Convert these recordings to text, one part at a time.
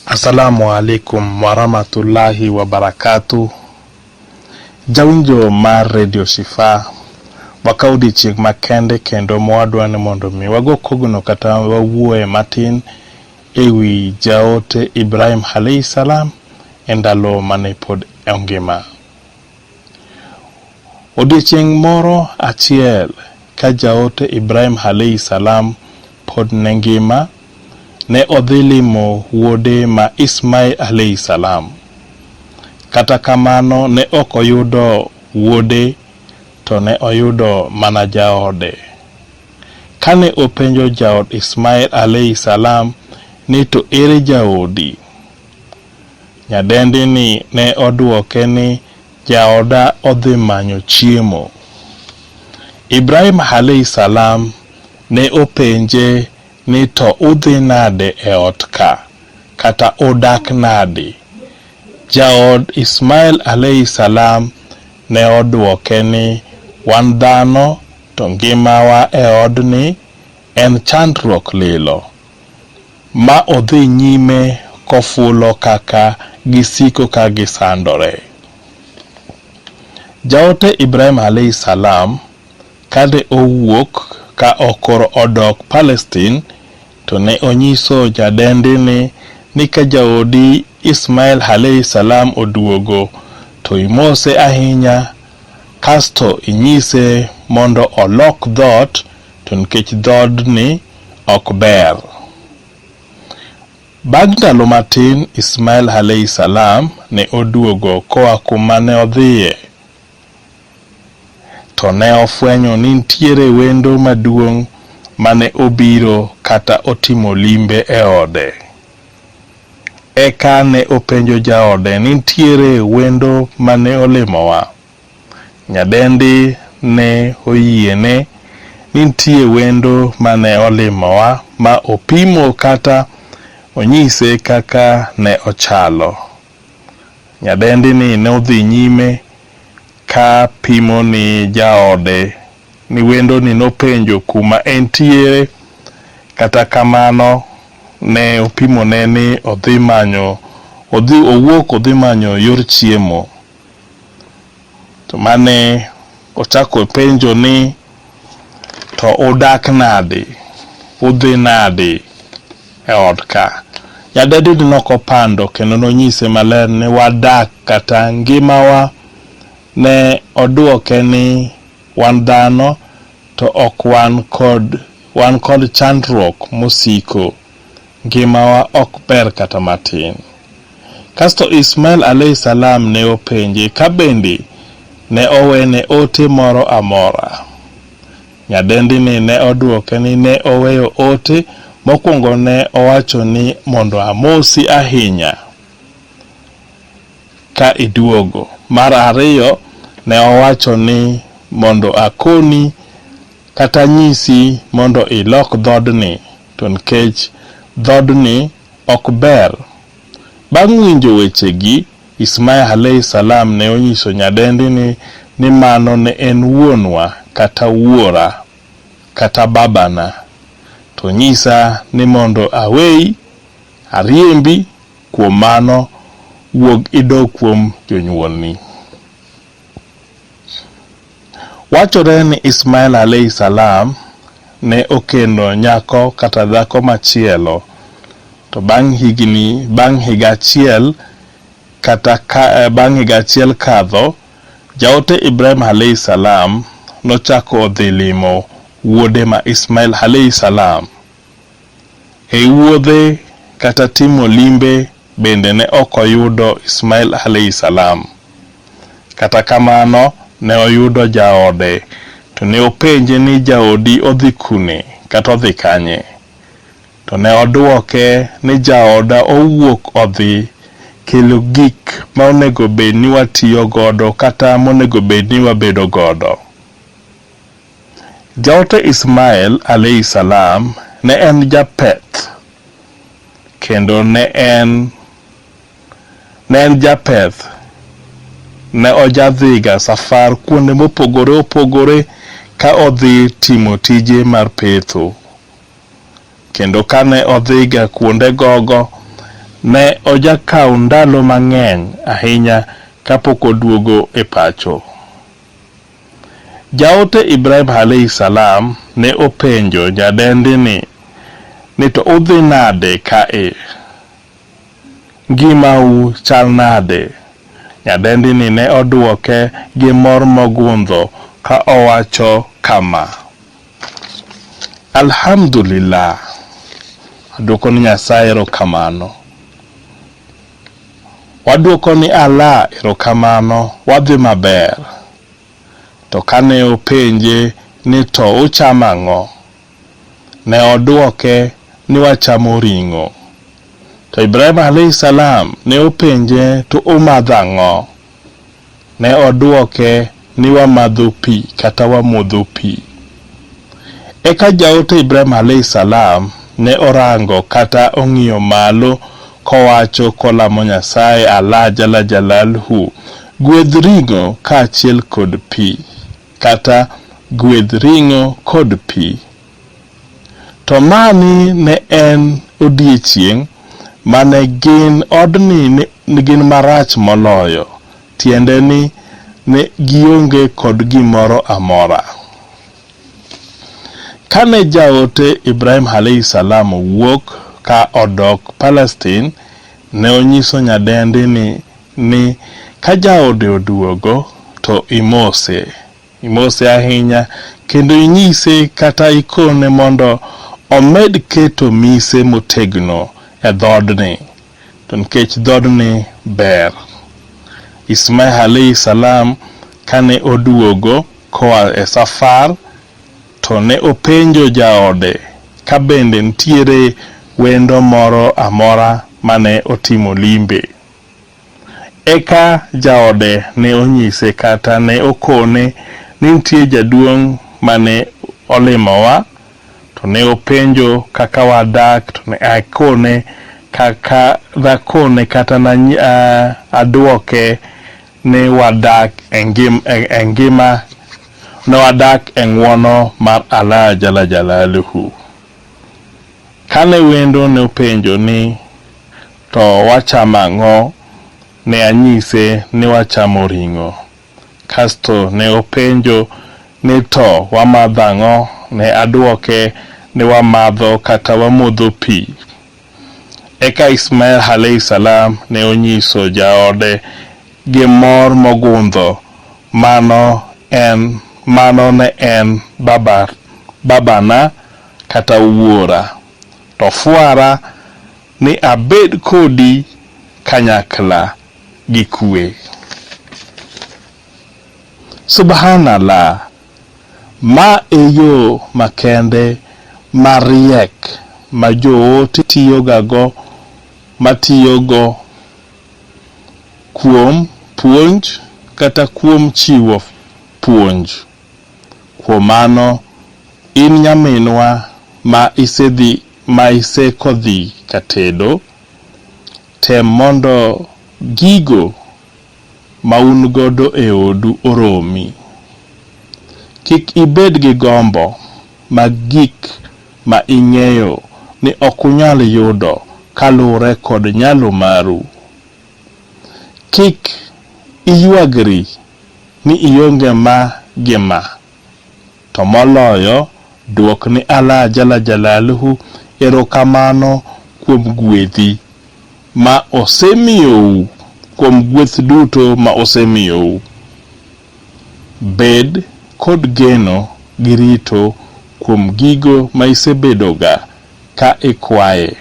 Assalamu alaikum warahmatullahi wabarakatuh. Jawinjo mar Radio Shifa, wakawo odiechieng' makende kendo mwadwa ni mondo mi wago kogno kata wawuoye matin e wi jaote Ibrahim alaihi salam e ndalo mane pod ongima. Odiechieng' moro achiel ka jaote Ibrahim Halehi Salam pod ne ngima, ne odhi limo wuode ma Ismail Halehi Salam. Kata kamano ne ok oyudo wuode to ne oyudo mana jaode. Kane openjo jaod Ismail Halehi Salam ni to ere jaodi? Nyadendini ne odwoke ni, Jaoda odhi manyo chiemo. Ibrahim alaihi salam ne openje ni to udhi nade e ot ka? kata udak nadi? Jaod Ismail alaihi salam ne odwoke ni, Wan dhano to ngimawa e odni en chandruok lilo. ma odhi nyime kofulo kaka gisiko ka gisandore. Jaote Ibrahim alaih salam kane owuok ka okoro odok Palestine to ne onyiso jadendini ni ka jaodi Ismail alaih salam oduogo to imose ahinya kasto inyise mondo olok dhoot to nikech dhoodni ok ber. Bang' ndalo matin, Ismail alaihi salam ne oduogo koa kuma ne odhiye, to ne ofwenyo ni nitiere wendo maduong' mane obiro kata otimo limbe e ode. Eka ne openjo jaode ni nitiere wendo mane olimowa? Nyadendi ne oyiene ni nitie wendo mane olimowa ma opimo kata onyise kaka ne ochalo. Nyadendi ni nodhi nyime ka pimo ni jaode ni wendo ni nopenjo kuma entiere kata kamano ne opimone ni odhi manyo odhi owuok odhi manyo yor chiemo. To mane ochako penjo ni to udak nadi, udhi nadi e ot ka. Nyadedini ne ok opando kendo ne onyise maler ni wadak kata ngimawa. Ne oduoke ni wan dhano to ok wan kod wan kod chandruok mosiko. Ngimawa ok ber kata matin. Kasto Ismail alaihi salaam ne openje ka bende ne owene ote moro amora. Nyadendini ne odwoke ni ne oweyo ote mokwongo ne owacho ni mondo amosi ahinya ka iduogo. Mar ariyo ne owacho ni mondo akoni kata anyisi mondo ilok dhoodni. To nikech dhoodni ok ber. Bang' winjo wechegi, Ismail alaihi salam ne onyiso nyadendi ni ni mano ne en wuonwa kata wuora kata babana, to nyisa ni mondo aweyi, ariembi, kuom mano wuog idog kuom jonyuolni. Wachore ni Ismail alaihi salaam ne okendo nyako kata dhako machielo to bang' higini bang' higa achiel kata ka bang' higa achiel kadho, Jaote Ibrahim alaihi salaam nochako odhi limo wuode ma Ismail alaihi salaam. E wuodhe kata timo limbe bende ne ok oyudo Ismail alaihi salaam. Kata kamano ne oyudo jaode to ne openje ni jaodi odhi kune kata odhi kanye? To ne oduoke ni jaoda owuok odhi kelo gik ma onego bed ni watiyo godo kata monego bed ni wabedo godo. Jaote Ismael alaihi salaam ne en japeth kendo ne en ne en japeth ne ojadhiga safar kuonde mopogore opogore ka odhi timo tije mar petho kendo kane odhiga kuonde gogo ne ojakawo ndalo mang'eny ahinya kapok oduogo e pacho. Jaote Ibrahim alaihi salaam ne openjo nyadendi ni, ni to udhi nade kae? Ngimau chal nade? Nyadendi ni ne odwoke gi mor mogundho ka owacho kama, Alhamdulillah! Adwoko ne Nyasaye erokamano. Waduoko ni Allah erokamano wadhi maber. To kane openje ni to uchamo ang'o? Ne oduoke ni wachamo ring'o. To Ibrahim alaihis salam ne openje to umadho ang'o? Ne odwoke ni, 'Wamadho pi kata wamodho pi. Eka jaote Ibrahim alaih salam ne orango kata ong'iyo malo kowacho kolamo Nyasaye, Allah jalla jalalhu, gwedh ring'o kaachiel kod pi, kata gwedh ring'o kod pi. To mani ne en odiechieng' ma ne gin odni ne gin marach moloyo, tiende ni ne gionge kod gimoro amora. Kane jaote Ibrahim alaihi salam owuok ka odok Palestine, ne onyiso nyadendini ni ka jaode oduogo to imose. Imose ahinya kendo inyise kata ikone mondo omed keto mise motegno e dhoodni, to nikech dhoodni ber. Ismaih alaih salam kane oduogo koa e safar to ne openjo jaode ka bende nitiere wendo moro amora mane otimo limbe. Eka jaode ne onyise kata ne okone ni nitie jaduong' mane olimowa to ne openjo kaka wadak to ne akone kaka nakone kata na aduoke ni wadak e ngima ne wadak e ng'uono mar Allah Jalla Jalaluhu. Kane wendo nopenjo ni, To wacham ang'o? ne anyise ni wachamo ring'o. Kasto ne openjo ni to wamadho ang'o? Ne adwoke ni wamadho kata wamodho pi. Eka Ismael Halehi Salam ne onyiso jaode gi mor mogundho mano en mano ne en baba babana kata wuora to fwara ni abed kodi kanyakla gi kwe. Subhanallah. Ma e yo makende mariek ma joote tiyogago matiyogo kuom puonj kata kuom chiwo puonj. Kuom mano, in nyaminwa ma isedhi ma iseko dhi katedo, tem mondo gigo. ma un godo e odu oromi. Kik ibed gi gombo mag gik ma ing'eyo ni ok unyal yudo kaluwre kod nyalo maru. Kik iywagri ni ionge ma gi ma, to moloyo dwok ni Allah Jalla Jalaluhu erokamano kuom gwedhi. ma osemiyou kuom gweth duto ma osemiyou. Bed kod geno gi rito kuom gigo ma isebedoga ka ikwaye.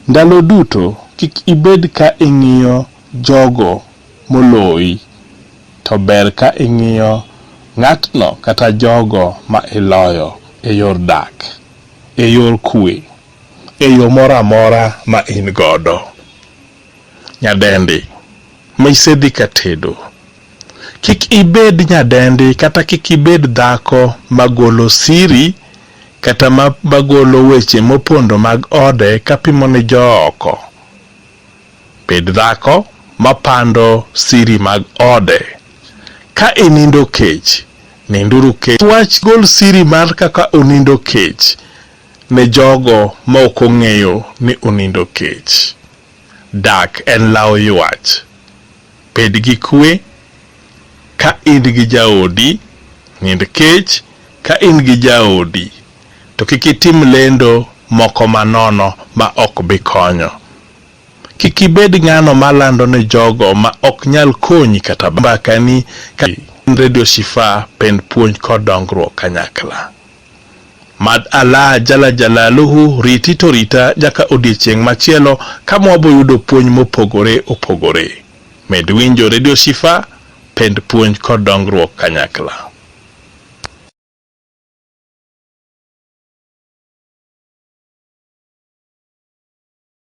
Ndalo duto kik ibed ka ing'iyo jogo moloyi, to ber ka ing'iyo ng'atno kata jogo ma iloyo e yor dak e yor kuwe. e yo moro amora ma in godo. Nyadendi ma isedhi ka tedo, kik ibed nyadendi kata kik ibed dhako magolo siri kata magolo weche mopondo mag ode kapimo ne jooko. Bed dhako mapando siri mag ode. Ka inindo kech, ninduru kech. Wach gol siri mar kaka unindo kech. Ne jogo ma ok ong'eyo ni onindo kech, dak en lawo ywach. Bed gi kuwe ka in gi jaodi, nind kech ka in gi jaodi, to kik itim lendo moko manono ma ok bi konyo. Kik ibed ng'ano ma lando ne jogo ma ok nyal konyi kata mbakani ka in Radio Shifaa pend puonj kod dongruok kanyakla. Mad Allah Jalla Jalaluhu riti to rita nyaka odiechieng' machielo ka mwabo yudo puonj mopogore opogore. Med winjo Radio Shifa, pend puonj kod dongruok kanyakla.